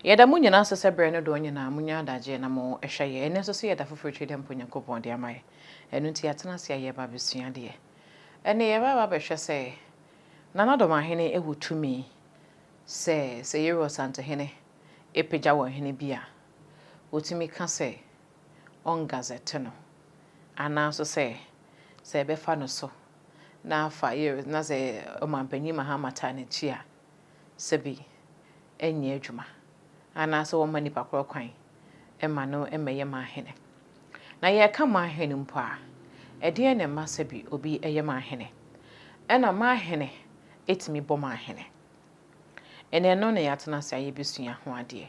Yɛda mo nyinaa ase sɛ berɛ no doɔ nyinaa mo nya adagyeɛ na mo hwɛ yɛn. Ɛnnɛ nso so yɛda foforɔ tiri dɛ mpo Nyankopɔn de ama yɛn. Ɛno nti yɛatena ase a yɛreba abɛsua adeɛ. Ɛnnɛ yɛreba aba abɛhwɛ sɛ Nana Domahene wɔ tumi sɛ sɛ Yeru Asantehene pagya ɔhene bi a, ɔtumi ka sɛ ɔngazɛte no anaa nso sɛ sɛ ɛbɛfa no so na afa Yeru na sɛ Ɔmanpanin Mahama taa n'akyi a, sɛ bi nyɛ adwuma anaasɛ wɔmma nipa korɔ kwan ma no mmɛyɛ man hene. Na yɛreka man hene mpo a, ɛdeɛn na ɛma sɛ bi obi yɛ man hene? Ɛna man hene tumi bɔ man hene. Ɛna ɛno na yɛatena ase a yɛbɛsua ho adeɛ.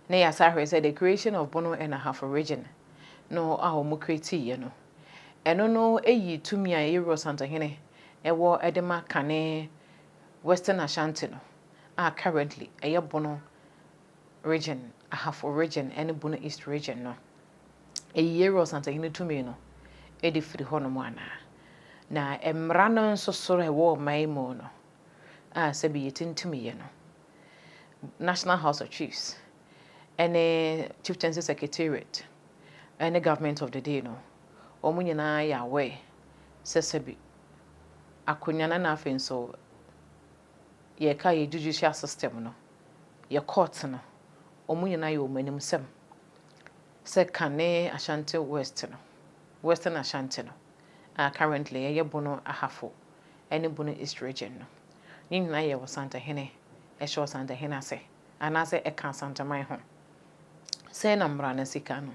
Na yɛasa ahwɛ sɛ the creation of Bono and Ahafo region no a wɔn kretiiɛ no, ɛno no yii tumi a Ewurosantohene wɔ de ma Kane Western Ashanti no, a currently ɛyɛ Bono Region, Ahafo Region ne Bono East Region no, eyi Yeiru Ɔsantahene tumi no de firi hɔnom anaa? Na mmara no nso so a ɛwɔ ɔman yi mu no, a sɛbi yɛtintimiyɛ no, National House of Chiefs ne Chieftaincy Secretariat ne Government of the Day no, wɔn nyinaa yɛ aware sɛ sɛbi akonnwa no na afei nso yɛka yɛ judicial system no, yɛ court no, wɔn nyinaa yɛ wɔn anim sɛm. Sɛ Kane Ashanti West no, Western Ashanti no, a currently ɛyɛ Bono Ahafo ne Bono East Region no, ne nyinaa yɛ Ɔsantahene, ɛhyɛ Ɔsantahene ase. anaasɛ ɛka Asanteman ho. Sɛɛ na mmara no si ka no.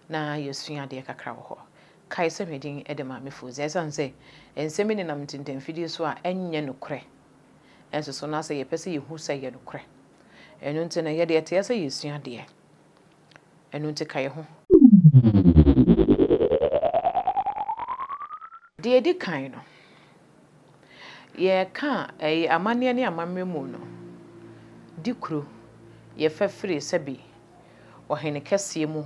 Na yɛasua adeɛ kakra wɔ hɔ. Kae sɛ me din de Maame Fooza. Ɛsiane sɛ nsɛm yi nenam ntintanfidie so a ɛnyɛ nokorɛ nso so, na sɛ yɛpɛ sɛ yɛhu sɛ ɛyɛ nokorɛ. Ɛno nti no, yɛde ɛteɛ sɛ yɛsua adeɛ. Ɛno nti ka yɛn ho. Deɛ ɛdi kan no, Yɛreka ɛyi amanneɛ ne amammerɛ mu no, di kuro yɛ fɛ firi sɛbi ɔhene kɛseɛ mu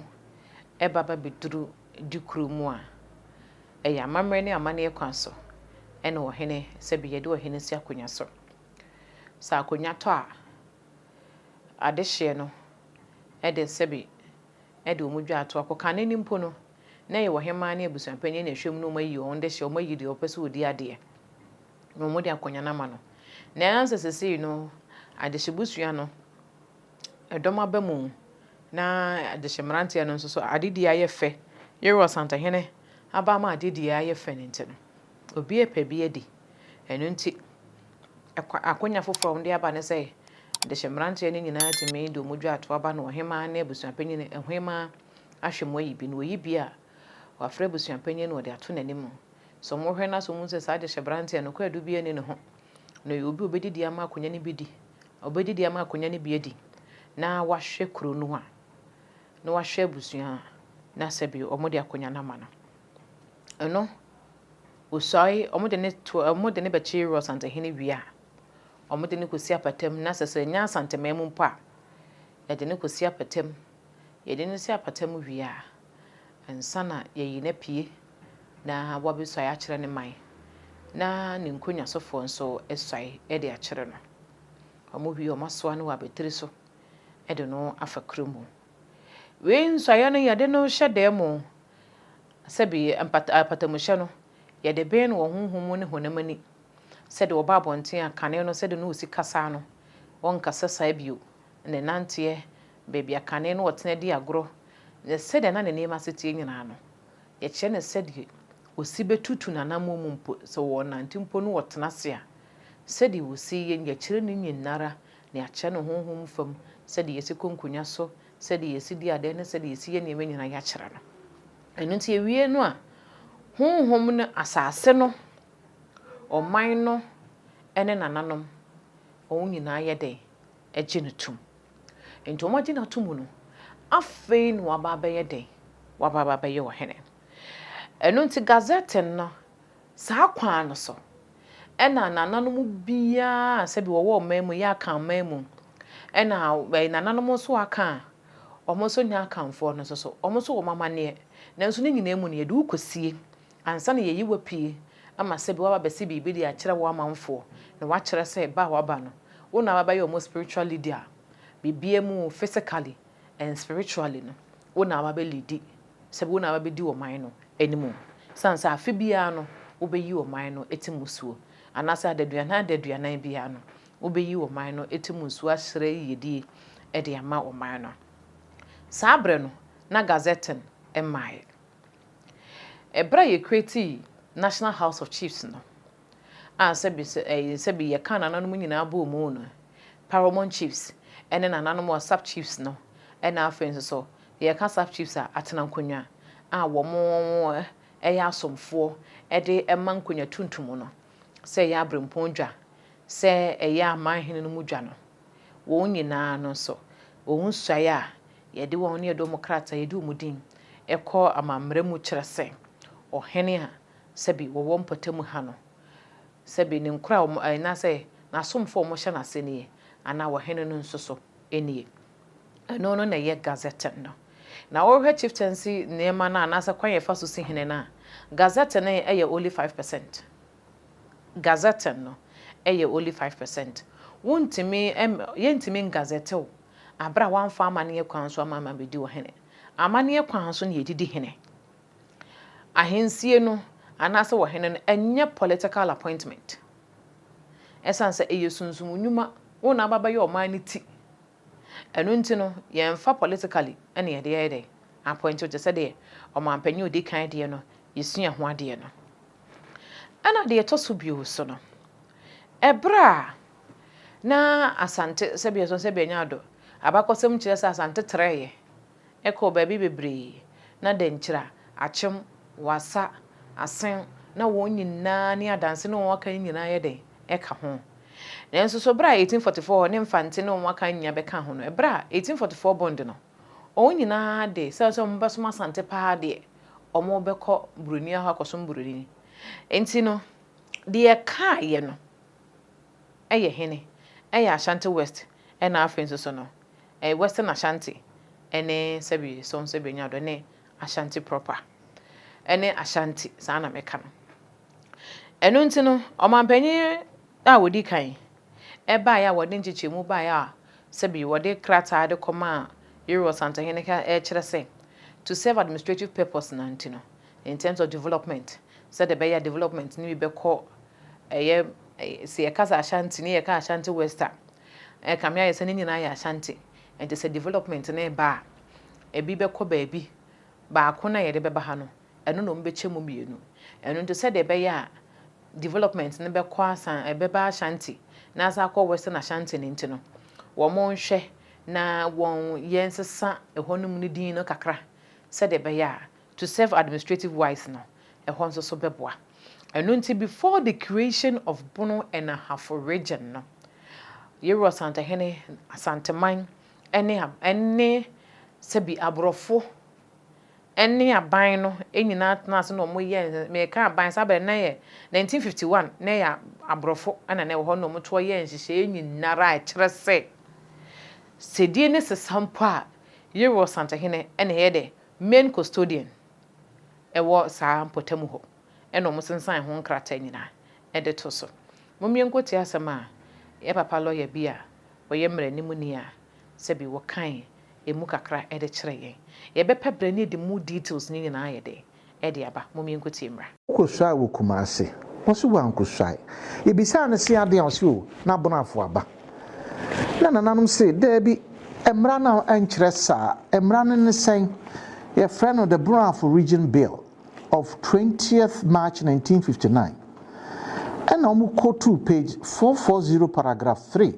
ba ba bɛduru di kuro mu a, ɛyɛ amammerɛ ne amanneɛ kwan so ɛna ɔhene sɛbi yɛde ɔhene si akonnwa so. Sɛ akonnwa tɔ a, adehyeɛ no ɛde sɛbi ɛde wɔn dwa ato akokane no mpo no na ɛyɛ ɔhemmaa ne abusuapanyin na ɛhwɛ mu na wɔayi wɔn de hyɛ, wɔayi deɛ wɔpɛ sɛ ɔdi adeɛ na wɔde akonnwa no ama no. Nanso sesei no, adehyebusua no, ɛdɔm aba mu na adehye mmeranteɛ no nso so adedie ayɛ fɛ. Yero Asantehene aba ama adedie ayɛ fɛ no nti no, obi repɛ bi adi. Ɛno nti, ɛkwa akonnwa foforɔ a wɔde aba ne sɛ adehye mmeranteɛ no nyinaa tumi de wɔn dwa ato aba na ɔhemmaa ne abusuapanyin, ɔhemmaa ahwɛ mu ayi bi no, wɔyi bi a, wɔafrɛ abusuapanyin na wɔde ato n'anim. Sɛ wɔhwɛ no ase a, wɔhu sɛ saa dehyebrante a nokware biara nni ne ho no yɛ obi a obedidi ama akonnwa no bi di, obedidi ama akonnwa no bi adi, na wahwɛ kurow no a, na wahwɛ abusua a na sɛbe wɔde akonnwa no ama no. Ɛno, osuae, wɔde no to, wɔde no bɛkyere Rosantahene wie a, wɔde no kosi apatam, na sɛ sɛ ɛnyɛ Asantehene mpo a, wɔde no kosi apatam. Yɛde no si apata mu wie a, ansa na yɛayi no apue na wabesuae akyerɛ ne man, na ne nkonnwasofoɔ nso asuae de akyerɛ no. Wɔwie a, wɔasoa no wɔ abatiri so de no afa kuro mu. Wei nsuaeɛ no, yɛde no hyɛ dan mu sɛbi mpata apatamuhyɛ no, yɛde bɛn no wɔ honhom mu ne honam ani, sɛdeɛ ɔba abɔnten a, kane no, sɛdeɛ ne ɔsi kasa no, ɔrenkasa saa bio, ne nanteɛ baabi a kane no ɔtena di agorɔ, ne sɛdeɛ na ne nneɛma ase teɛ nyinaa no, yɛkyerɛ no sɛdeɛ ɔsi bɛtutu n'anammɔn mu mpo, sɛ ɔrenante mpo na ɔtena ase a, sɛdeɛ ɔsi yɛ, yɛkyerɛ no nyinara, na yɛakyerɛ no honhom fam, sɛdeɛ yɛsi kɔ nkonnwa so, sɛdeɛ yɛsi di adeɛ ne sɛdeɛ yɛsi yɛ nneɛma nyinaa yɛakyerɛ no. Ɛno nti yɛwie no a, honhom no, asase no, ɔman no ne nananom, wɔn nyinaa yɛ dɛn? gye no tom. Enti wɔagye no atom no, afei na waba abɛyɛ dɛn? Waba abɛyɛ ɔhene. Ɛno nti Gazetteer no, saa kwan no so na nananom biara a sɛbi wɔwɔ ɔman mu, yɛ Akanman mu, ɛna nananom nso a aka a wɔn nso nyɛ Akanfoɔ no nso so, wɔn nso wɔ wɔn amanneɛ. Nanso ne nyinaa mu no, yɛde wo kɔsie Ansa na yɛayi wo apue ama sɛbi woaba abɛsi biribi de akyerɛ wo amanfoɔ na woakyerɛ sɛ ba a waba no, wo na waba abɛyɛ wɔn spiritual leader a, biribiara mu physically and spiritually no, wo na waba abɛlidi, sɛbi wo na waba abɛdi ɔman no anim. Ɛsiane sɛ afe biara no wobɛyi ɔman no ti mu suo, anaasɛ adaduanan adaduanan biara no wobɛyi ɔman no ti mu suo asrɛ yiyedie de ama ɔman no. Saa berɛ no, na Gazetting mmaaeɛ. Bere a yecreatee National House of Chiefs no, a sɛbi sɛ ɛyɛ sɛbi yɛka nananom nyinaa bɔɔ mu no, Paramount Chiefs ne nananom a Sub Chiefs no na afei nso so yɛka Sub Chiefs a atena nkonnwa a wɔyɛ asomfoɔ de ma nkonnwa tuntum no sɛ ɛyɛ abirempɔn dwa, sɛ ɛyɛ amanhene no mu dwa no. wɔn nyinaa no nso, wɔn suae a yɛde wɔn ne yɛde wɔn krataa a yɛde wɔn din kɔ amammerɛ mu kyerɛ sɛ ɔhene a sɛbe wɔwɔ mpɔtam ha no, sɛbe ne nkoa a wɔn, anaasɛ n'asomfo a wɔhyɛ n'ase nie, anaa ɔhene no nso so nie. Ɛno no na ɛyɛ Gazette no. Na wohwɛ chieftaincy nneɛma no a, anaasɛ kwan a yɛfa so si hene no a, Gazette no yɛ only five percent. Gazetting no yɛ only five percent. Wontumi ɛm yɛntumi ngazette wo aber a wɔammfa amanneɛ kwan so amma ammɛdi wo hene. Amanneɛ kwan so na yɛde di hene. Ahensie no anaasɛ ɔhene no ɛnyɛ political appointment. Ɛsiane sɛ ɛyɛ sunsum nnwuma, wo na abɛbɛyɛ ɔman no ti Ɛno nti no yɛnfa politically na yɛde yɛ dɛn appoint wo te sɛ deɛ ɔmanpanin a ɔdi kan deɛ no yɛsua ho adeɛ no. Ɛna deɛ ɛtɔ so bio so no ɛberɛ a na Asante sɛbia sɛ sɛbia Nyado abakɔsɛm kyerɛ sɛ Asante trɛɛɛ Ɛkɔ baabi bebree, na Dankyira, Akyem, Wassa, Asen, na wɔn nyinaa ne Adanse ne wɔn aka no nyinaa yɛ dɛn? Ɛka ho. Nanso so bere a 1844 hɔ ne Mfante ne wɔn aka no nyinaa bɛkaa ho no, bere a 1844 Bond no, wɔn nyinaa de, esiane sɛ wɔbɛsom Asante paa deɛ, wɔbɛkɔ Buroni ahɔ akɔsom Buroni nti no, deɛ ɛkaeɛ no yɛ hene? Ɛyɛ Ashanti West, ɛnna afei nso so no, Western Ashanti ne sɛbi song sɛbi nya dɔ ne Ashanti proper ne Ashanti saa na mɛka no. Ɛno nti no ɔmanpanyin a ɔdi kan baeɛ a wɔde nkyekyɛmu baeɛ a sɛbi wɔde krataa de kɔmaa Yori Ɔsantehene ka ɛkyerɛ sɛ to serve administrative purpose na nti no in terms of development sɛdeɛ ɛbɛyɛ a development no bi bɛkɔ ɛyɛ sɛ yɛka sɛ Ashanti ne yɛka Ashanti West a Ɛkame ayɛ sɛ ne nyinaa yɛ Ashanti, enti sɛ development no reba a, ebi bɛkɔ baabi, baako no a yɛde bɛba ha no, ɛno na wɔbɛkyɛ mu mmienu. Ɛno nti sɛdeɛ ɛbɛyɛ a development no bɛkɔ Asan, ɛbɛba Ashanti na asan akɔ Western Ashanti no nti no, wɔnhwɛ na wɔn, yɛnsesa ɛhɔnom no din no kakra sɛdeɛ ɛbɛyɛ a. To serve administrative wise no ɛhɔ nso so bɛboa. Ɛno nti before the creation of Bono and Ahafo region no, Yero Asantehene, Asanteman ne ne sɛbi aborɔfo ne aban no nyinaa tenaa ase na wɔn yɛɛ, meka aban, saa bere no na ɛyɛ 1951, na ɛyɛ aborɔfo na na ɛwɔ hɔ na wɔn toɔ yɛɛ nhyehyɛeɛ nyinara a ɛkyerɛ sɛ sɛdie ne sesa mpo a Yero Asantehene na ɛyɛ dɛ Main Custodian wɔ saa mpɔtam hɔ na wɔsensan ho nkrataa nyinaa de to so. Mom yɛnkɔ tie asɛm a yɛn papa lɔya bi a ɔyɛ mmaranimni a sɛbi wɔkae ɛmu kakra de kyerɛ yɛn. Yɛbɛpɛ berɛ ne yɛde mu details no nyinaa ayɛ dɛn de aba. Mom yɛnkɔ tie mmra. Wokɔsuae wɔ Kumase? Ɔse wankɔsuae. Yɛbisaa no se adeɛn a, ɔse oh, na Bonafoɔ aba. Na nananom se daabi, mmara no nkyerɛ saa. Mmara no ne sɛn? Yɛfrɛ no the Bonafo Region Bill of twentieth March nineteen fifty nine. Ɛna wɔkɔtoo page four four zero paragraph three.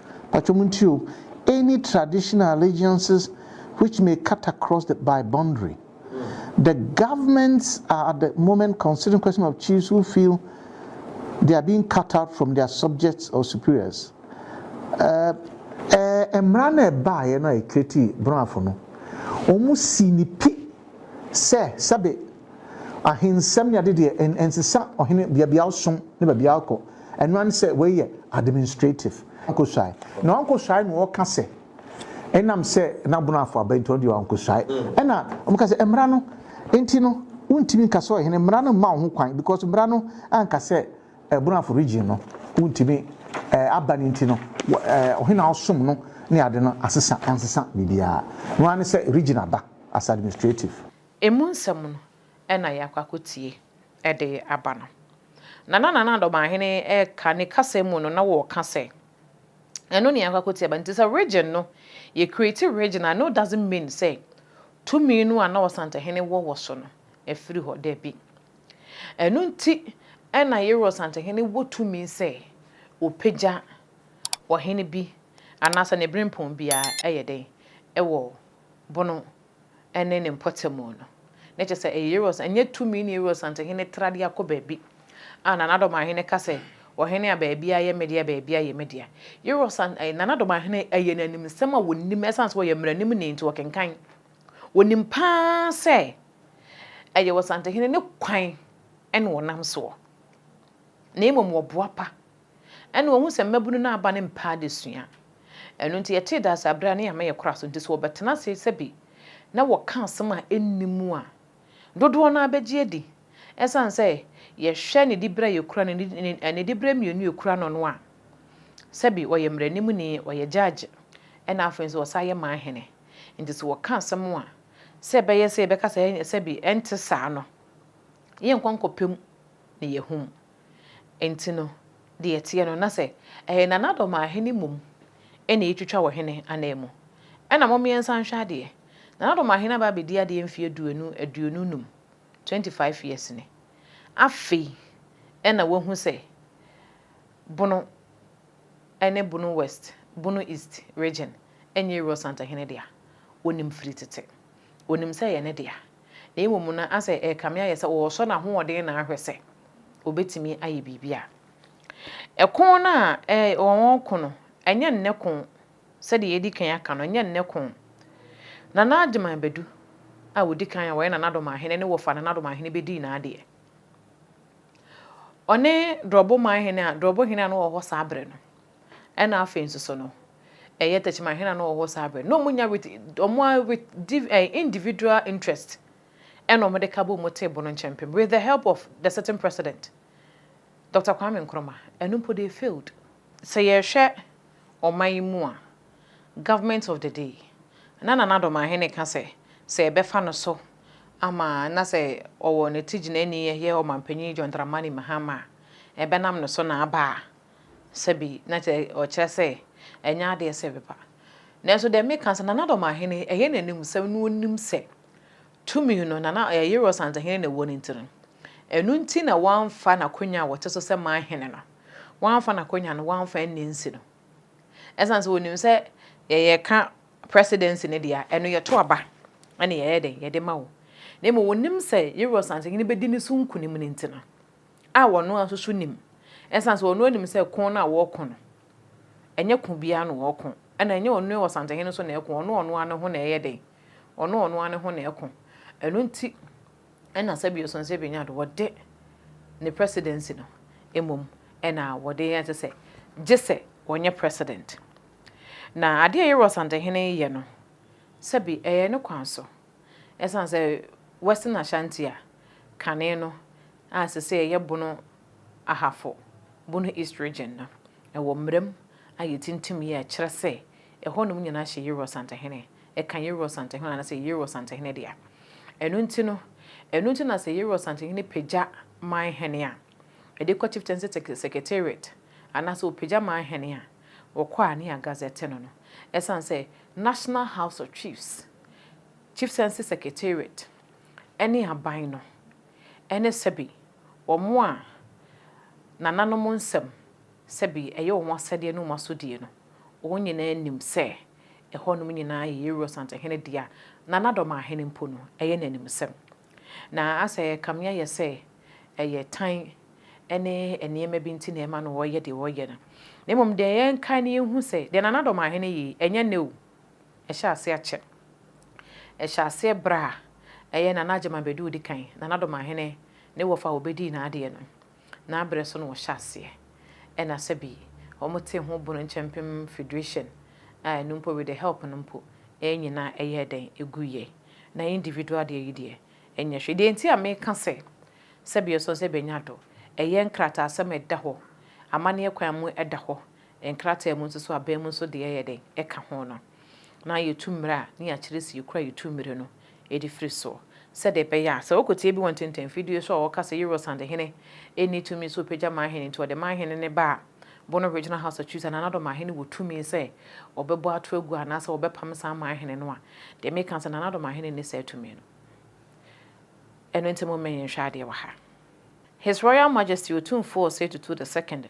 Mpakyɛw muntie o, any traditional allegiances which may cut across the by boundary. The governments are at the moment considering question of chiefs who feel they are being cut out from their subjects or superiors. Uh, ɛɛ mmara no ɛbaeɛ no a ɛkireti borɔafo no wɔn si ne pi sɛ sɛbe Ahensɛm ne ade deɛ ɛn ɛnsesa ɔhene biabia ɔsom ne babia ɔkɔ ɛno ane sɛ wei yɛ administrative ɔnkɔsuae na ɔnkɔsuae na ɔka sɛ ɛnam sɛ nabono afɔ aba nti ɔno deɛ ɔnkɔsuae ɛna ɔmo ka sɛ mmara no nti no wontumi nka sɛ ɔhene mmara no mma wo ho kwan because mmara no anka sɛ ɛbono afɔ region no wontumi ɛɛ aba no nti no ɛɛ ɔhene a ɔsom no ne ade no asesa ansesa biribiara ɛno ane sɛ region aba as administrative. Emu nsɛm no na yɛakɔ akɔtie de aba no. Na na Nana Addo Ɔmanhene reka ne kasa mu no, na wɔreka sɛ, ɛno na yɛakɔ akɔtie aba. Nti sɛ region no, yɛ create region a, no doesn't mean sɛ tumi no a na Ɔsantehene wɔ wɔ so no, afiri hɔ. Dabi. Ɛno nti na Yero Ɔsantehene wɔ tumi sɛ ɔpagya ɔhene bi anaasɛ ne berempɔn biara yɛ dɛn wɔ bono ne ne mpɔtamu no. Na kyerɛ sɛ, ɛyɛ Euroas, ɛnyɛ tumi na Euroas Asantehene tra de akɔ baabi a Nana Adomahene ka sɛ, Ɔhene a baabiara yɛ me dea, baabiara yɛ me dea. Euroas, Nana Adomahene, ɛyɛ no animsɛm a ɔnim, ɛsiane sɛ ɔyɛ mmaranimni nti, ɔkenkan. Ɔnim pa ara sɛ, ɛyɛ Ɔsantehene ne kwan na ɔnam soɔ, na mmom ɔboapa. Ɛnna wɔahu sɛ mmabunu no aba no mpɛ adesua. Ɛno nti, yɛtee Daasa bere a na yɛama yɛakora aso nti, sɛ wɔbɛtena ase sɛbe na wɔka asɛm a enni mu a, dodoɔ no ara bɛgye adi. Ɛsiane sɛ yɛhwɛ ne dibere a yɛkura no ne ne dibere mmienu a ɛkura no no a, sɛbe ɔyɛ mmaranimni, ɔyɛ gyagye, ɛnna afei nso ɔsan yɛ man hene nti, sɛ wɔka asɛm a, sɛ ɛbɛyɛ sɛ yɛbɛka sɛ sɛbe ɛnte saa no, yɛrenkɔ nkɔpem na yɛahum. Enti no, deɛ ɛteɛ no, na sɛ ɛyɛ nanadɔm a, hene mmom na ɛretwitwa wɔ hene ananmu. Ɛnna mommeɛnsa nhwɛ adeɛ. Nanadɔm a hene aba abɛdi adeɛ mfeɛ duonu aduonu nnum, twenty five years, ni. Afei na wɔahu sɛ Bono ne Bono West, Bono East region nyɛ Rossant hene dea. Ɔnim firi tete. Ɔnim sɛ ɛyɛ ne dea. na mmom na asɛ ɛrekame ayɛ sɛ ɔresɔ n'ahoɔden na ahwɛ sɛ obetumi ayɛ biribi a. Ɛko no a wɔreko no, ɛnyɛ nnɛ ko, sɛdeɛ yɛadi kan aka no, ɛnyɛ nnɛ ko. Nana Agyeman Badu a ɔdi kan a ɔyɛ Nana Domahene ne wɔfaa Nana Domahene bɛdii n'adeɛ. Ɔne Dorɔboman hene a, Dorɔbohene a na ɔwɔ hɔ saa berɛ no. Ɛna afei nso so no, ɛyɛ tɛkyima hena na ɔwɔ hɔ saa bere no? Na wɔnya with wɔn a with div eh, individual interest ɛna wɔn de ka bom mo table no nkyɛn pem with the help of the certain president Dr. Kwame Nkrumah ɛno mpo they failed. Sɛ yɛhwɛ ɔman yi mu a, government of the day na Nana Addo Mahene ka sɛ sɛ yɛbɛfa no so ama na sɛ ɔwɔ ne ti gyinaɛni ɛyɛ ɔmanpanyin John Dramani Mahama a ɛbɛnam ne so na aba a Sɛbi na kyerɛ ɔkyerɛ sɛ ɛnyɛ adeɛ sɛ ɛbɛba. Nanso deɛ meka sɛ Nana Dɔmahene ɛyɛ n'animsɛm na ɔnim sɛ tumi no Nana Yero Asantehene na ɛwɔ no nti no, ɛno nti na wamfa n'akonwa a ɔte so sɛ Manhene no, wamfa n'akonwa no wamfa anni nsi no. Ɛsiane sɛ ɔnim sɛ yɛka Presidency no deɛ a, ɛno yɛto aba na yɛyɛ dɛn, yɛde ma wo. Na mmom ɔnim sɛ Yero Asantehene bɛdi ne so nkunim no nti no. a ɔno ara nso so nim esiane sɛ ɔno ara nim sɛ ko no a wɔreko no, ɛnyɛ ko biara na wɔreko, ɛna ɛnyɛ ɔno ara Ɔsantehene nso na ɛko, ɔno ɔno ara ne ho na ɛyɛ dɛn? Ɔno ɔno ara ne ho na ɛko. Ɛno nti ɛna sɛbi Osonsɛ Benyado wɔde ne presidency no mmom ɛna wɔde yɛ te sɛ gye sɛ ɔnyɛ president. Na adeɛ a Yero Ɔsantehene reyɛ no, sɛbi ɛyɛ ne kwan so. Esiane sɛ Western Ashanti a kane no a seesei ɛyɛ Bono Ahafo, Bono East Region, no, ɛwɔ mmara mu a yɛtintim yɛ a ɛkyerɛ sɛ ɛhɔnom nyinaa hyɛ Yerua Asantehene, ɛka Yerua Asantehene anaasɛ ɛyɛ Yerua Asantehene dea. Ɛno nti no, ɛno nti na sɛ Yerua Asantehene pagya man hene a, Mede kɔ Chieftaincy Secretariat anaasɛ wɔpagya me ahene a, wɔkɔ a ne yɛ agazɛte no no. Ɛsiane sɛ National House of Chiefs, Chieftaincy Secretariat ne aban no ne sɛbe wɔn a nananom nsɛm sɛbe ɛyɛ wɔn asɛdeɛ ne wɔn asodie no, wɔn nyinaa nim sɛ ɛhɔnom nyinaa yɛ Yeruosant hene dea, na n'adɔmahene mpo no, ɛyɛ n'animsɛm. Na asɛ ɛkame ayɛ sɛ ɛyɛ tan ne nneɛma bi nti na ɛma no wɔyɛ deɛ wɔyɛ no. Na mmom deɛ yɛnkae na yɛnhu sɛ, deɛ Nana Dɔm Ahene yɛ yi, ɛnyɛ nnɛ o. Ɛhyɛɛ aseɛ akyɛ. Ɛhyɛɛ aseɛ berɛ a ɛyɛ Nana Agyemang Badu a ɔdi kan, Nana Dɔm Ahene, ne wɔfa a wɔbɛdii n'adeɛ no. Naa berɛ so na wɔhyɛ aseɛ ɛna sɛbi wɔn te ho bono nkyɛ mpem federation a ɛno mpo with the help no mpo ɛyɛ nyina ɛyɛɛ dɛn ɛgu yɛ na individual deɛ yi deɛ ɛnyɛ hwee deɛ nti a meka sɛ sɛbi ɛsɔ sɛ bɛnya do ɛyɛ nkrataasɛm ɛda hɔ amaneɛ kwan mu ɛda hɔ Nkrataa mu nso so aban mu nso deɛ yɛ dɛn ɛka ho no. Na yɛtu mmire a ne yɛakyerɛ sɛ yɛkura yɛ tu mmire no de firi soɔ. Sɛdeɛ ɛbɛyɛ a sɛ wokɔtie bi wɔ ntɛntɛn mfidie so a ɔka sɛ Eurosand hene nni tumi sɛ ɔpagya man hene nti ɔde man hene no ba a Bono Regional House Akyiri sɛ anaa Nana Addo man hene wɔ tumi sɛ ɔbɛbɔ ato agu anaa sɛ ɔbɛpam saa man hene no a deɛ meka ne sɛ Nana Addo man hene nni saa tumi no. Ɛno nti mo mmɛ yɛn nhwɛ adeɛ wɔ ha. His Royal Majesty Otumfuo Osei Tutu the Second,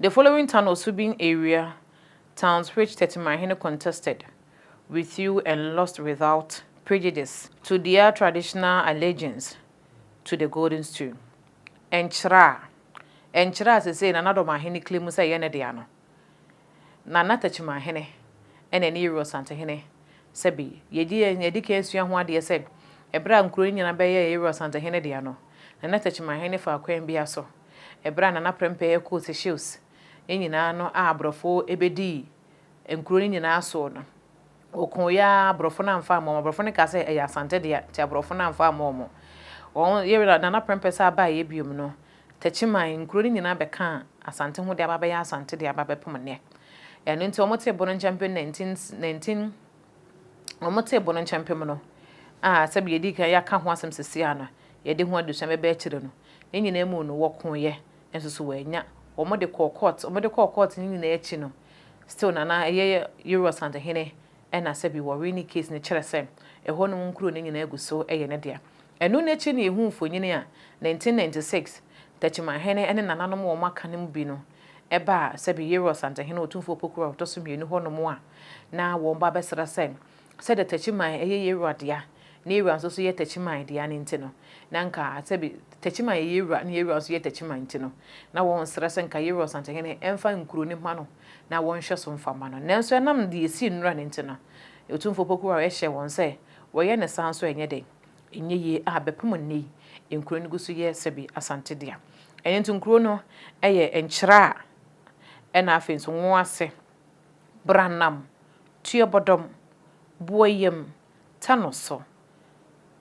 The following town Osubin area towns which Tetimahene contested with you and lost without prejudice to their traditional allegiance to the golden stool Nkyerɛ a Nkyerɛ a sesei Nana Domaahene claimu sɛ ɛyɛ ne dea no. na na Takyimanhene na ɛne Yerua Santehene sɛ bi. Yɛgye yɛn yɛadi kan asua ho adeɛ sɛ ɛberɛ a nkuro no nyinaa bɛyɛɛ Yerua Santehene dea no, na na Takyimanhene faa kwan bia so ɛberɛ a Nana Prempeh ɛkoo Seychelles no nyinaa no a aborɔfoɔ ɛbɛdii nkuro no nyinaa soɔ no. Ɔkooeɛ ara aborɔfo no amfa ammɔ wɔn. Aborɔfo no kaa sɛ ɛyɛ Asante dea nti aborɔfo no amfa ammɔ wɔn. Wɔn Yerua Nana Prempeh san baeɛ biom no Techiman, nkuro no nyinaa bɛkaa Asante ho de aba abɛyɛ Asante de aba abɛpem nnɛ. Ɛno nti wɔtee bo no nkyɛmpem 19 19 wɔtee bo no nkyɛmpem no a sɛdeɛ yɛdii kan yɛaka ho asɛm sesia no, yɛde ho adesua bɛba akyire no, ne nyinaa mu no wɔkooeɛ nso so wɔannya. Wɔde kɔɔ court, wɔde kɔɔ court no nyinaa akyi no, still na na ɛyɛ Yero Asantehene Ɛna sɛbi wɔwee ne case no kyerɛ sɛ ɛhɔ nom nkuro no nyinaa gu so yɛ ne dea. Ɛno no akyi no yɛhuu mfonini a 1996 Takimahene ne nananom wɔn aka no mu bi no ba a sɛbi Yero Asantehene Otumfoɔ Opoku a ɔtɔso mmienu hɔ nom a na wɔn ba bɛsrɛ sɛ sɛdeɛ Tachiman yɛ Yeroa dea na Yeroa nso so yɛ Tachiman dea no nti no na nka sɛbi Tachiman yɛ Yeroa na Yeroa nso yɛ Tachiman nti no na wɔn srɛ sɛ nka Yero Asantehene mfa nkuro no mma no. na wɔn nhwɛso mfa mma no. Nanso ɛnam deɛ ɛsii nnora no nti no, Otumfoɔ Poku Ware hyɛɛ wɔn sɛ wɔyɛ ne saa nso ɛnyɛ dɛn, ɛnyɛ yie a bɛpem nnɛ yi nkuro no gu so yɛ sɛbi Asante dea. Ɛno nti nkuro no yɛ nkyerɛ a ɛna afei nso nwo ase, Branam, Tuobɔdɔm, Boayam, Tanoso,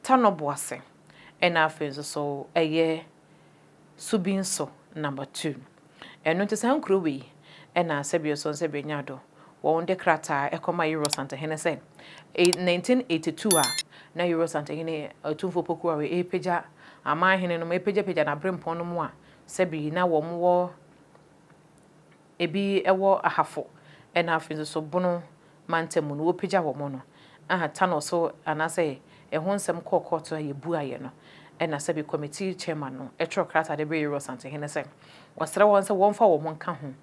Tanoboase ɛna afei nso so ɛyɛ. so bi nso number two. Ɛno nti saa nkuro wei na sɛbi ɔsɔ nsɛbi nya do wɔn de krataa ɛkɔ ma Yoro Santahene sɛ 1982 a na Yoro Santahene Otumfoɔ Opoku Ware ɛrepagya aman hene nom ɛrepagyapagya n'abrempɔn nom a sɛbi na wɔn wɔ ebi wɔ Ahafo na afei nso so Bono mantam mu no, wɔpagya wɔn no, aha, tunnel so anaasɛ ɛho nsɛm kɔɔ kɔɔto a yɛbuaeɛ no, ɛna sɛbe Committee Chairman no twerɛ krataa de brɛɛ Yɛwura Ɔsantehene sɛ ɔsrɛ wɔn sɛ wɔmfa wɔn nka ho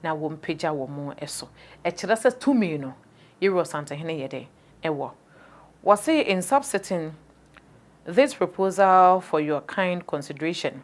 na wɔmpagya wɔn so. Ɛkyerɛ sɛ tumi no Yɛwura Ɔsantehene yɛ dɛn? Ɛwɔ. Wɔse in subsetting this proposal for your kind consideration,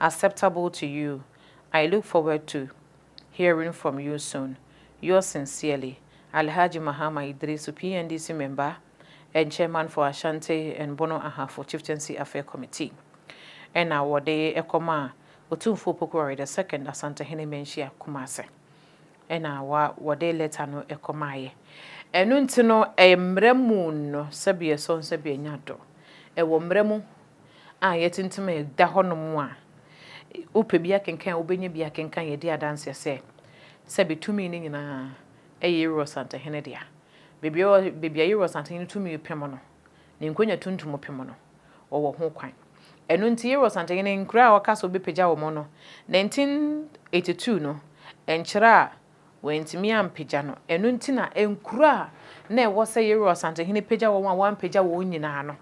acceptable to you I look forward to hearing from you soon yours sincerely Alhaji Mahama Idrisu PNDC member and chairman for Ashanti and Bono Ahafo Chieftaincy Affair Committee ɛna wɔde kɔmaa Otumfoɔ Opoku Ware the second Asantehene Manhyia Kumase ɛna wa wɔde letter no kɔmaeɛ ɛno nti no ɛyɛ mmara mu no sɛbi ɛsɔn sɛbi ɛnya do ɛwɔ mmara mu a yɛatintim a ɛda hɔnom a wopɛ bi akenkan a, wobɛnya bi akenkan. Yɛdi adanseɛ sɛ, sɛbe tumi no nyinaa yɛ Yeroboam Santahene dea. Baabiara ɔ, baabi a Yeroboam Santahene tumi pem no, ne nkonnwa tuntum pem no, wɔwɔ ho kwan. Ɛno nti, Yeroboam Santahene, nkuraa a ɔka sɛ ɔbɛpagya wɔn no, 1982 no, nkyerɛ a Wɔantumi ampagya no. Ɛno nti na nkuro a na ɛwɔ sɛ Yerua Ɔsantehene pagya wɔn a wɔampagya wɔn nyinaa no,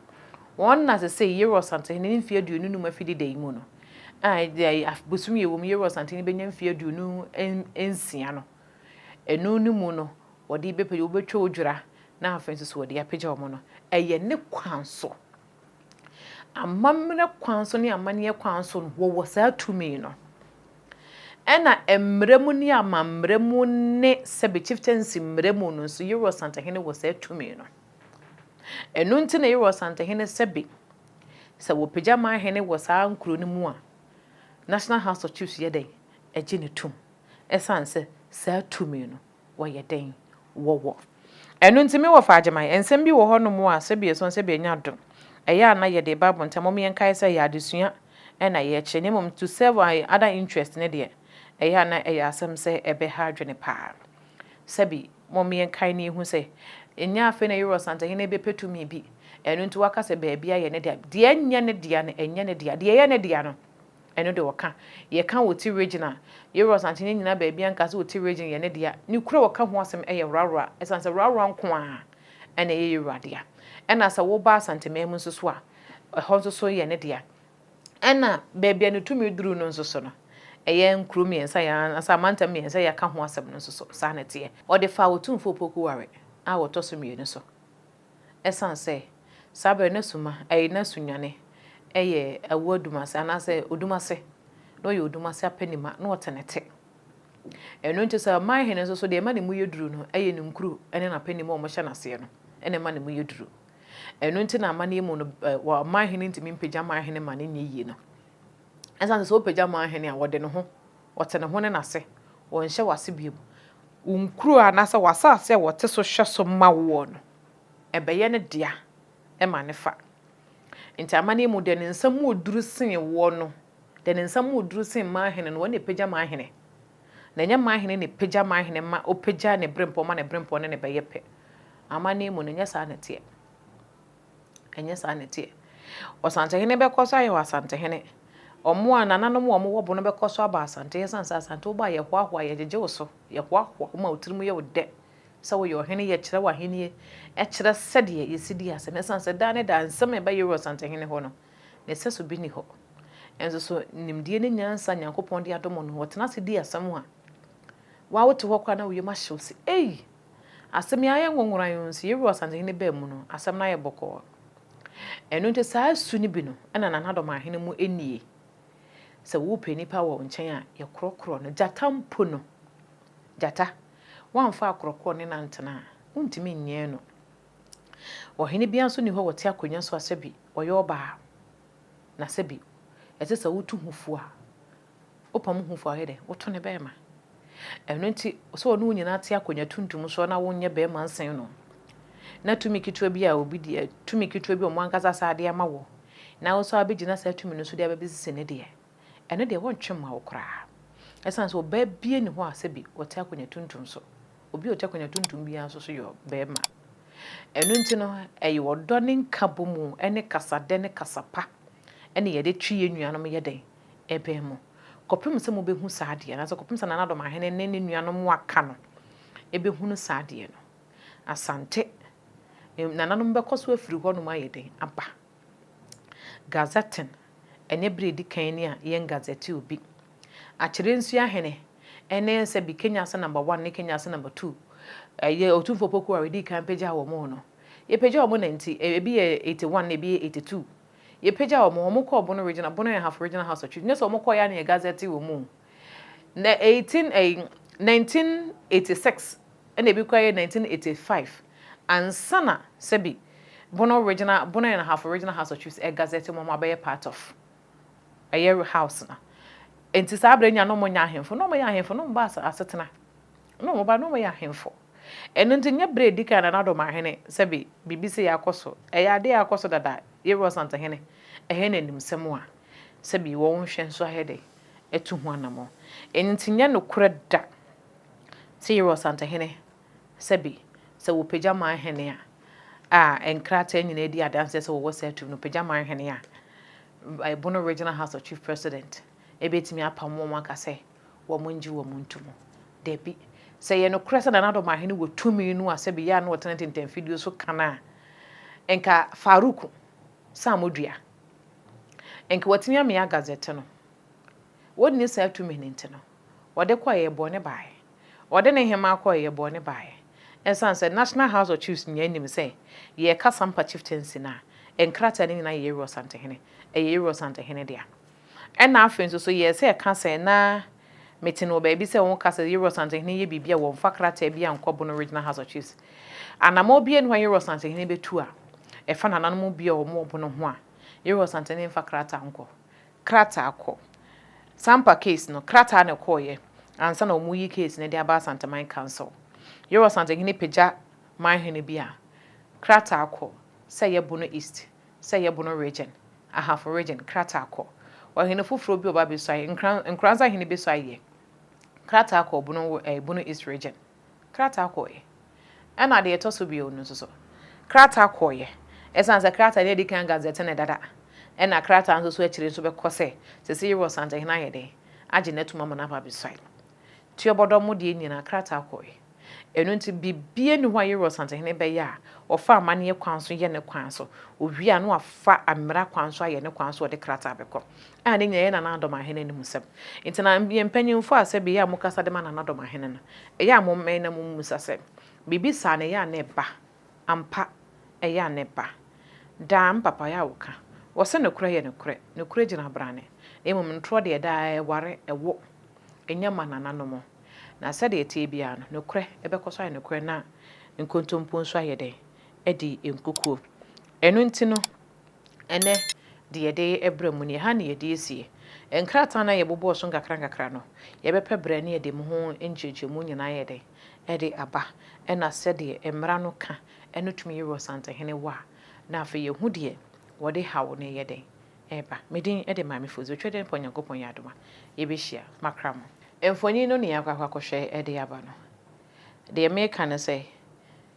wɔn nna sesei, Yerua Ɔsantehene ne mfeɛ aduonu nnum afi deda yi mu no, a bosome yɛwɔ mu yi Yerua Ɔsantehene bɛnya mfeɛ aduonu nsia no, ɛno no mu no wɔde bɛpagya, wɔbɛtwa odwira na afei nso so wɔde apagya wɔn no. Ɛyɛ ne kwan so Amammerɛ kwan so ne amanneɛ kwan so no, wɔwɔ saa tumi no. Ɛna mmerɛ mu ne amammerɛ mu ne sɛbe chieftaincy mmerɛ mu no nso, Yero Asantehene wɔ saa tumi no. Ɛno nti na Yero Asantehene sɛbe, sɛ wɔpagya ma hene wɔ saa nkuro no mu a, National House of Chiefs yɛ dɛn? Ɛgye no tom. Ɛsiane sɛ saa tumi no wɔyɛ dɛn? Wɔwɔ. Ɛno nti, me wɔfa Agyemang, nsɛm bi wɔ hɔnom a sɛ bi ɛsɔn sɛ bi ɛnyɛ adom. Ɛyɛ a na yɛde ba abuntam, mom yɛnkae sɛ ɛyɛ adesua na yɛrekyerɛ na mmom to serve our other interest no deɛ, ɛyɛ a na ɛyɛ asɛm sɛ ɛbɛha adwene paa. Sɛbi, mom yɛnkae na yɛhu sɛ, ɛnyɛ afei na Yoweri Ɔsantehene rebɛpɛ tumi bi, ɛno nti waka sɛ baabiara yɛ ne dea. Deɛ ɛnyɛ ne dea no, ɛnyɛ ne dea. Deɛ ɛyɛ ne dea no. Ɛno de ɔka. Yɛka Oti Region a, Yowura's Ankye no nnyina baabi anka sɛ Oti Region yɛ ne dea. Ne kuro a ɔka ho asɛm yɛ Rarua ɛsiane sɛ Rarua nko ara na ɛyɛ Yowura dea. Ɛna sɛ woba Asanteman mu nso so a, ɛhɔ nso so yɛ ne dea. Ɛna baabi a ne tumi duru no nso so no, ɛyɛ nkuro mmiɛnsa yi ara anaasɛ amantam mmiɛnsa yi a yɛaka ho asɛm no nso so, saa na ɛteɛ. Ɔde faa Otumfoɔ Opoku Ware a ɔtɔ so mmienu so. Esiane sɛ saa bere no suma, ɛyɛ na sunwane, ɛyɛ awu adum ase anaasɛ odum ase, na ɔyɛ odum ase apɛnima, na ɔte ne te. Ɛno nti sɛ ɔman hene nso so deɛ ɛma ne mu yɛ duru no yɛ ne nkuro ne n'apɛnima a wɔhyɛ no aseɛ no na ɛma ne mu yɛ duru. Ɛno nti na amanneɛ mu no ɔman hene ntumi mpagya man hene ma no nyɛ yie no. Ɛsiane sɛ sɛ ɔpagya man hene a ɔde ne ho Ɔte ne ho ne n'ase, ɔnhyɛ w'ase bio. Wo nkuro anaasɛ w'asase a ɔte so hwɛ so ma woɔ no, ɛbɛyɛ ne dea ma ne fa. Enti amanneɛ mu, deɛ ne nsa mu wɔ duru sen woɔ no, deɛ ne nsa mu wɔ duru sen mmaa hene no, ɔno na ɛpagya mmaa hene. Na ɛnyɛ mmaa hene na ɛpagya mmaa hene ma ɔpagya ne berempɔn ma ne berempɔn ne no bɛyɛ pɛ. Amanneɛ mu no, ɛnyɛ saa na ɛteɛ. Ɛnyɛ saa na ɛteɛ. Ɔsantehene bɛkɔ so ayɛ ɔasantehene. Wɔn a nananom a wɔwɔ bo no bɛkɔ so aba Asante ɛsiane sɛ Asante wobɔ a yɛhoahoa, yɛgyegye wo so, yɛhoahoa wo ma wo tirim yɛ wo dɛ sɛ woyɛ ɔhene, yɛkyerɛ w'ahennie, ɛkyerɛ sɛdeɛ yɛsi di ase no ɛsiane sɛ daa ne daa nsɛm a ɛbɛyere Ɔsantehene hɔ no, ne sɛso bi nni hɔ. Nanso so nimdeɛ ne nyansa a Nyankopɔn de adom wo no, wɔtena ase di asɛm a, wo ara wote hɔ koraa na wo yam ahye wo se, Ei! Asɛm yi ayɛ nwonwonwa yi nso, Yehowa Asantehene baa mu no, asɛm no ayɛ bɔkɔɔ. Ɛno nti, saa su no bi no na nananom ahene mu nnie. Sɛ worepɛ nnipa wɔ wo nkyɛn a, yɛ korɔkorɔ no. Gyata mpo no, gyata, woamfa akorɔkorɔ ne no antena a, wontumi nyɛɛ no. Ɔhene biara nso nni hɔ a ɔte akonnwa so a sɛbi ɔyɛ ɔbaa, na sɛbi ɛte sɛ wotu ho fo a, Wopa mo hufo a ɔyɛ dɛn? Woto ne bɛrima. Ɛno nti, sɛ ɔne wo nyinaa te akonnwa tuntum so na wonyɛ bɛrima nsen no, na tumi ketewa bi a obi de, tumi ketewa bi a wɔn ankasa saa de ama wo, na wo nso abɛgyina saa tumi no so de abɛbɛsisi ne deɛ, ɛno deɛ wɔntwe mma wo koraa. Ɛsiane sɛ ɔbaa bia nni hɔ a sɛbi ɔte akonnwa tuntum so. Obi a ɔte akonnwa tuntum biara nso so yɛ bɛrima. Ɛno nti no, ɛyɛ ɔdɔ ne nkabɔmu ne kasadɛ ne kasa pa na yɛde twe yɛn nuanom yɛ dɛn? ɛbɛn mo, kɔpem sɛ mobɛhu saa adeɛ no, anaasɛ kɔpem sɛ Nana-Dɔmahene ne ne nuanom a wɔaka no bɛhunu saa adeɛ no. Asante, Nananom bɛkɔ so afiri hɔnom ayɛ dɛn aba? Gazetting, Ɛnyɛ berɛ a ɛdi kan ni a yɛngazzete obi. Akyerɛ-Nsuahene ne sɛbi Kenya Ase Number One ne Kenya Ase Number Two, ɛyɛ Otumfoɔ Poku a wɔdii kan pagyaa wɔn no. Yɛpagyaa wɔn na nti, ebi yɛ eighty one na ebi yɛ eighty two. Yɛpagyaa wɔn, wɔn kɔɔ Bono Regional, Bono and Hafo Regional House of Chiefs, nyɛ sɛ wɔn kɔɔeɛ ara na yɛ gazette wɔn o. Na 18 ɛyi 1986 ɛna ebi koraa yɛ 1985 ansa na sɛbi Bono Regional, Bono and Hafo Regional House of Chiefs ɛgazette wɔn abɛyɛ part of ɛyɛ house no. Nti saa berɛ nyinaa na wɔn nyɛ ahemfo, na wɔn yɛ ahemfo, na wɔn ba asetena, na wɔn ba na wɔn yɛ ahemfo. Ɛno nti, nyɛ bere a edi kan na Nado ma ahene sɛ bi, biribi sei akɔ so. Ɛyɛ ade a akɔ so dada, yɛwɔ ɔsantehene, ɛhɛn na animsɛm a, sɛ bi, wɔn nhwɛ nso ayɛ dɛ atu ho anamɔn. Ɛno nti, nyɛ nokorɛ da sɛ yɛwɔ ɔsantehene, sɛ bi, sɛ wɔpagya ma ahene a, a nkrataa nyinaa di adanseɛ sɛ wɔwɔ saa tumi no, wɔpagya ma ahene a, ɛbono Regional House of Chief President, ɛbɛtumi apamo wɔn aka sɛ, wɔngye wɔn nto mu? Dabi. Sɛ ɛyɛ nokorɛ sɛ Nana Addo Mahene wɔ tumi no a sɛbe yɛ a na ɔtena ntintanfidie so ka no a, nka Farouk Samodua, nka watumi amea Gazette no. Ɔnni saa tumi no nti no, ɔde kɔɔ ɛyɛ bɔne baeɛ. Ɔde ne hemaa kɔɔ ɛyɛ bɔne baeɛ. Ɛsiane sɛ National House of Chiefs nyinaa nim sɛ yɛreka Sampa Chieftaincy no a, nkrataa no nyinaa yɛ Yeru Asantehene, ɛyɛ Yeru Asantehene dea. Ɛnna afei nso so yɛɛ sɛ yɛka sɛ, na mete no wɔ baabi sɛ wɔka sɛ Yewros Asantehene yɛ biribi a wɔmfa krataa biara nkɔ Bono Regional House of Chiefs. Anammɔn biara nni hɔ a Yewros Asantehene bɛtu a ɛfa nananom bi a wɔwɔ Bono ho a Yewros Asantehene mfa krataa nkɔ. Krataa kɔ. Sampa case no, krataa na ɛkɔeɛ ansa na wɔreyi case no de aba Asanteman Council. Yewros Asantehene pagya manhene bi a, krataa kɔ sɛ ɛyɛ Bono East. sɛ yɛ Bono Region, Ahafo Region, krataa kɔ. Ɔhene foforɔ bi ɔba bɛsua yɛ, Nkran, Nkoranza hene bɛsua yɛ, krataa kɔ Bono, eh, Bono East Region, krataa kɔ yɛ. Ɛna deɛ ɛtɔ so bio no nso so, krataa kɔ yɛ. Ɛsiane sɛ krataa no adi kan Gazette no dada, ɛna krataa nso so akyire nso bɛkɔ sɛ, sɛsɛ yi Rɔsantehene ayɛ dɛn, agye n'atum ama no aba abɛsua yɛ. Tiɔbɔdɔ mo deɛ nyinaa krataa kɔ yɛ. Ɛno nti, biribiara nni hɔ a Yerua Ɔsantehene bɛyɛ a ɔfa amanneɛ kwan so yɛ ne kwan so, ɔwie a na wafa mmara kwan so ayɛ ne kwan so a ɔde krataa bɛkɔ, a ne nyinaa yɛ Nana Adom Ahene animsɛm. Nti na yɛn mpanyimfoɔ a sɛbe yɛ a mokasa de ma Nana Adom Ahene no, ɛyɛ a mommɛn na mommisa sɛ, Biribi saa no, ɛyɛ a na ɛba? Ampa, ɛyɛ a na ɛba. Daa, me papa, ɛyɛ a wɔka, wɔse nokorɛ yɛ nokorɛ, nokorɛ gyina abrane, na mmom ntorɔ deɛ daa ɛware, ɛwo. Ɛnya ma nananom. Na sɛdeɛ ɛteɛ biara no, nokorɛ bɛkɔ so ayɛ nokorɛ na nkontompo nso ayɛ dɛn? adi nkukuo. Ɛno nti no, ɛnnɛ deɛ yɛde brɛ mu no, yɛha na yɛde asie. Nkrataa no a yɛbobɔɔ so nkakrankakra no, yɛbɛpɛ berɛ na yɛde ho nkyerɛkyerɛmu nyinaa ayɛ dɛn? de aba, ɛna sɛdeɛ mmara no ka no tumi yɛ wɔ Ɔsantehene Wɔ a, na afei yɛhu deɛ wɔde haw no reyɛ dɛn? Ɛreba. Me din de Maame Fodzi. Otwa dɛ mpo Nyankopɔn yɛ adom a, yebehyia. Makra mo. Mfonyin no na yɛakɔ akɔhwɛ de aba no. Deɛ meka ne sɛ,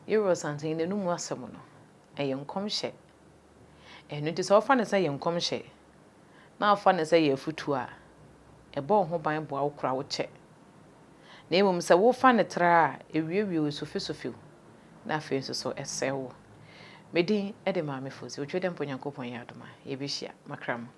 Yoweri Santen n'anomu asɛm no, ɛyɛ nkɔmhyɛ. Ɛno nti sɛ wofa no sɛ yɛ nkɔmhyɛ, na wofa no sɛ yɛ afotuo a, ɛbɔ wo ho ban boa wo kora wo kyɛ. na mmom sɛ wofa no tra a, ewiawia wo, esofesofe wo, na afei nso so ɛsɛe wo. Me din de Maame Fosu. Otwedɛmpa Onyankopɔn yɛ adom a, yebehyia. Makra mo.